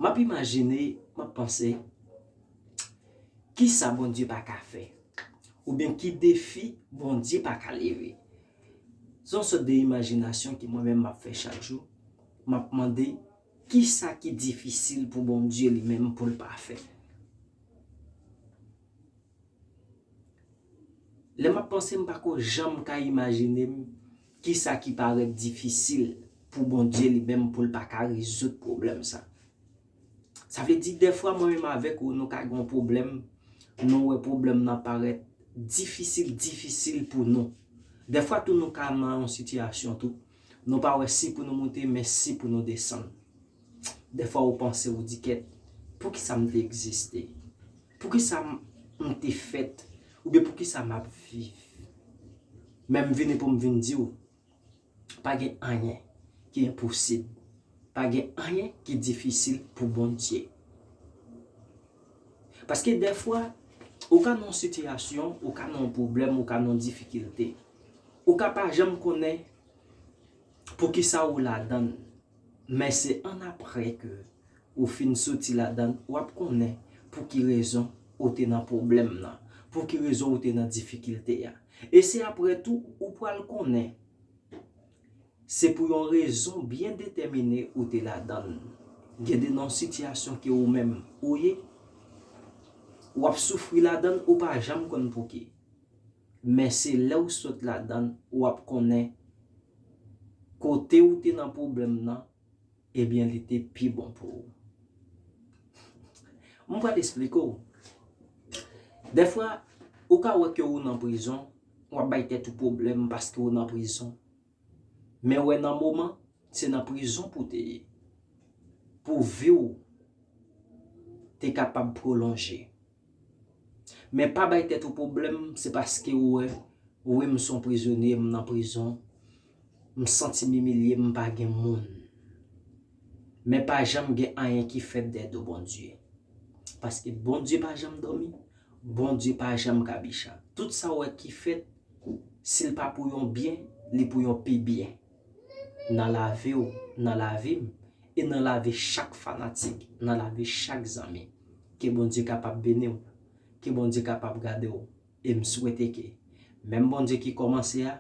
M ap imajine, m ap panse, Kisa Bondye pa ka fè? Oubyen ki defi Bondye pa ka leve? Se yon sòt de imajinasyon ke mwen menm m ap fè chak jou, m ap mande, Kisa ki difisil pou Bondye li menm pou l pa fè? Lè m ap panse m pa ko janm ka imajine m kisa ki parèt difisil pou Bondye li menm pou l pa ka rezoud pwoblèm sa. Sa vle di dèfwa mwen menm avèk ou nou ka gen yon pwoblèm, nou wè pwoblèm nan parèt difisil difisil pou nou. Dèfwa tou nou ka nan yon sitiyasyon tou, nou pa wè si pou nou moute men si pou nou desann. Dèfwa ou panse ou di kèt, poukisa m te egziste? Poukisa m te fèt oubyen poukisa m ap viv? Men m vini pou m vin di w, pa gen anyen ki enposib, pa gen anyen ki difisil pou Bondye. Paske dèfwa, ou ka nan yon sitiyasyon, ou ka nan yon pwoblèm, ou ka nan yon difikilte, ou ka pa janm konnen poukisa ou ladan l, men se annapre ke Ou fin soti ladann wap konnen pou ki rezon ou te nan pwoblèm nan, pou ki rezon ou te nan difikilte a. E se aprè tou ou pral konnen se pou yon rezon byen detèmine ou te ladann. Gen de nan sitiyasyon ke ou menm ou ye, wap soufri ladann ou pa janm konn pou ki. Men se lè ou sot ladann wap konnen kote ou te nan pwoblèm nan Ebyen li te pi bon pou ou. M pral esplike w. Dèfwa, ou ka wè ke ou nan prizon, w ap bay tèt ou pwoblèm paske ou nan prizon. Men wè nan moman, se nan prizon pou w te ye. Pou vi w te kapab pwolonje. Men pa bay tèt ou pwoblèm se paske ou wè wi m son prizonye m nan prizon m santi m imilye m pa gen moun men pa janm gen anyen ki fèt dèyè do Bondye paske Bondye pa janm dòmi Bondye pa janm kabicha tout sa ou wè ki fèt si l pa pou yon byen li pou yon pi byen. nan lavi w, nan lavi m, e nan lavi chak fanatik, nan lavi chak zanmi. Ke Bondye kapab beni w, ke Bondye kapab gade w, e m swete ke menm Bondye ki kòmanse a,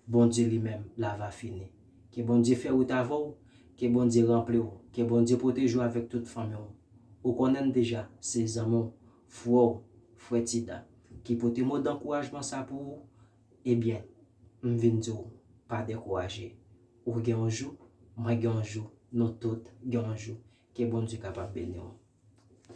Bondye li menm la va fini. Ke Bondye fè wout avè w, ke Bondye ranpli w, ke Bondye pwoteje w avèk tout fanmi w. Ou konnen m deja, se zanmi w, frè w, Frè Ti Dan, ki pote mo dankourajman sa pou ou, Ebyen, m vin di w, pa dekouraje. Ou gen yon jou, mwen gen yon jou, nou tout gen yon jou. Ke Bondye kapab beni w.